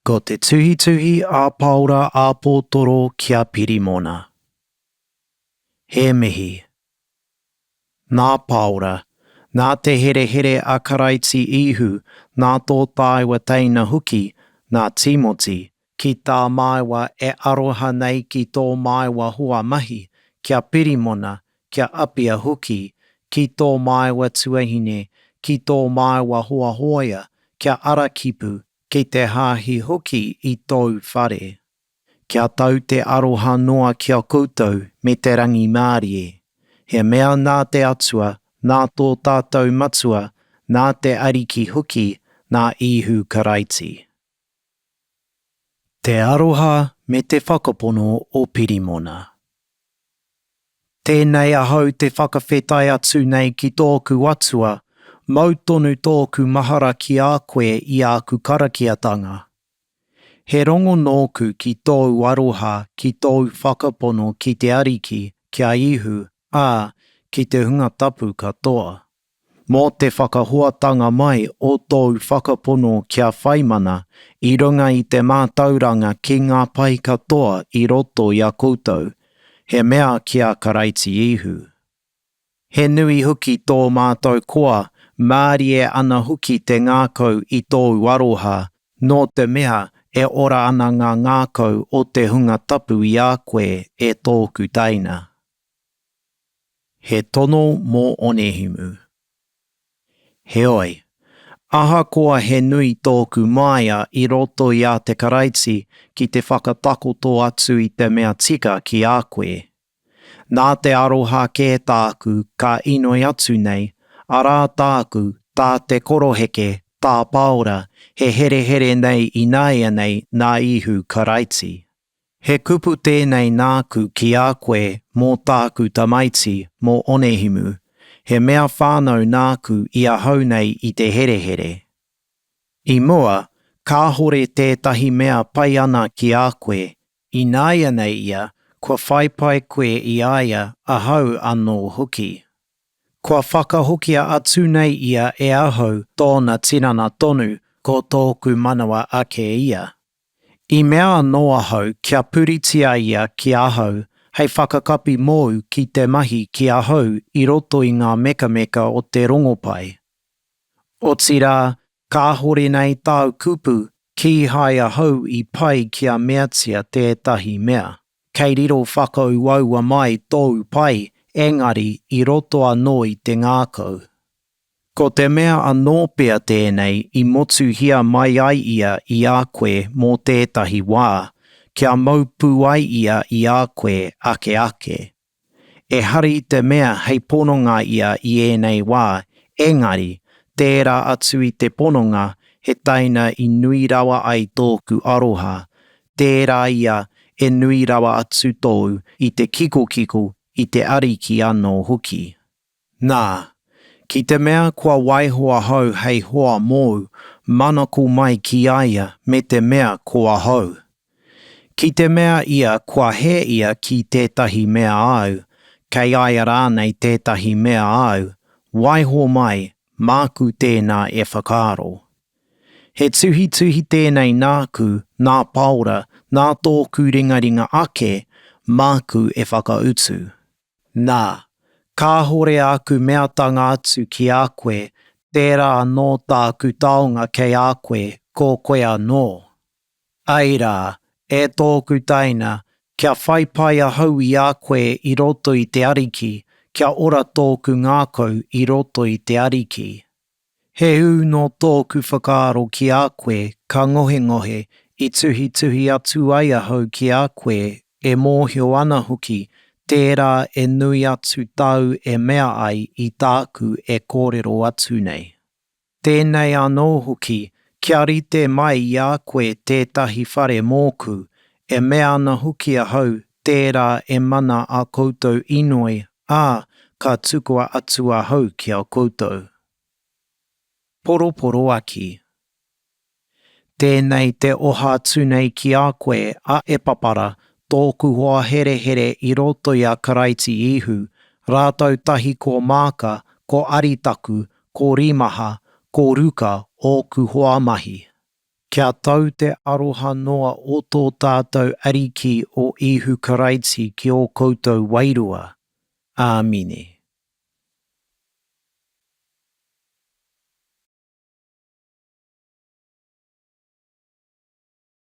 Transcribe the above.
Ko te tuhituhi a Paora Apotoro ki a Pirimona. He mihi. Nā Paora, nā te herehere a Karaiti Ihu, nā tō tāua teina hoki, nā Timoti, Ki tā māua e aroha nei ki tō māua hoa mahi, kia Pirimona, kia Apia hoki, ki tō māua tuahine, ki tō māua hoa hōia, kia Arakipu, ki te Hāhi hoki i tōu whare. Kia tau te aroha noa ki a koutou me te rangimārie. He mea nā te Atua, nā tō tātou Matua, nā te Ariki hoki, nā Īhu Karaiti. Te aroha me te whakapono o Pirimona. Tēnei ahau te whakawhetai atu nei ki tōku Atua, mau tonu tōku mahara ki a koe i āku karakiatanga. He rongo nōku ki tōu aroha ki tōu whakapono ki te Ariki, ki a Ihu, ā, ki te Hunga Tapu katoa. Mō te whakahoatanga mai o tōu whakapono kia whai mana i runga i te mātauranga ki ngā pai katoa i roto i a koutou, he mea ki a Karaiti Ihu. He nui hoki tō mātou koa, mārie ana hoki te ngākau i tōu aroha, nō te mea e ora ana ngā ngākau o te hunga tapu i a koe, e tōku teina. He tono mō Onehimu. Heoi, ahakoa he nui tōku māia i roto i a te Karaiti ki te whakatakoto atu i te mea tika ki a koe, nā te aroha kē tāku ka inoi atu nei, arā tāku, tā te koroheke, tā Pāora, he herehere nei ināianei nā Īhu Karaiti. He kupu tēnei nāku ki a koe mō tāku tamaiti, mō Onehimu. He mea whānau nāku i ahau nei i te herehere. I mua, kāhore tētahi mea pai ana ki a koe. Ināianei ia, kua whai pai koe i a ia, ahau anō hoki. Kua whakahokia atu nei ia e ahau tōna tinana tonu, ko tōku manawa ake ia. I mea anō ahau kia puritia ia ki ahau hei whakakapi mōu ki te mahi ki ahau i roto i ngā mekameka o te rongopai. Otirā, kāhore nei tāu kupu kīhai ahau i pai kia meatia tētahi mea. Kei riro whakauaua mai tōu pai engari i roto anō i te ngākau. Ko te mea anō pea tēnei i motuhia mai ai ia i a koe mō tētahi wā, kia mau pū ai ia i a koe ake ake. Ehara i te mea hei pononga ia i ēnei wā, engari, tērā atu i te pononga he taina i nui rawa ai tōku aroha, tērā ia e nui rawa atu tōu i te kikokiko i te Ariki anō hoki. Nā, ki te mea kua waiho ahau hei hoa mōu, manako mai ki a ia me te mea ko ahau. Ki te mea ia kua hē ia ki tētahi mea āu, kei a ia rānei tētahi mea āu, waiho mai, māku tēnā e whakaaro. He tuhituhi tēnei nāku, nā Pāora, nā tōku ringaringa ake, māku e whakautu. Nā, kāhore āku meatanga atu ki a koe, tērā anō tāku taonga kei a koe, ko koe anō. Āe rā, e tōku taina, kia whai pai ahau i a koe i roto i te Ariki, kia ora tōku ngākau i roto i te Ariki. He ū nō tōku whakaaro ki a koe ka ngohengohe i tuhituhi atu ai ahau ki a koe e mōhio ana hoki tērā e nui atu tāu e mea ai i tāku e kōrero atu nei. Tēnei anō hoki kia rite mai i a koe tētahi whare mōku e mea ana hoki ahau Tērā e mana ā koutou inoi, ā, ka tukua atu ahau ki a koutou. Poroporoaki. Tēnei te oha atu nei ki a koe, a Epapara, tōku hoa herehere i roto i a Karaiti Ihu, rātou tahi ko Māka, ko Aritaku, ko Rimaha, ko Ruka, ōku hoa mahi. Kia tau te aroha noa o tō tātou Ariki o Īhu Karaiti ki ō koutou wairua. Āmine.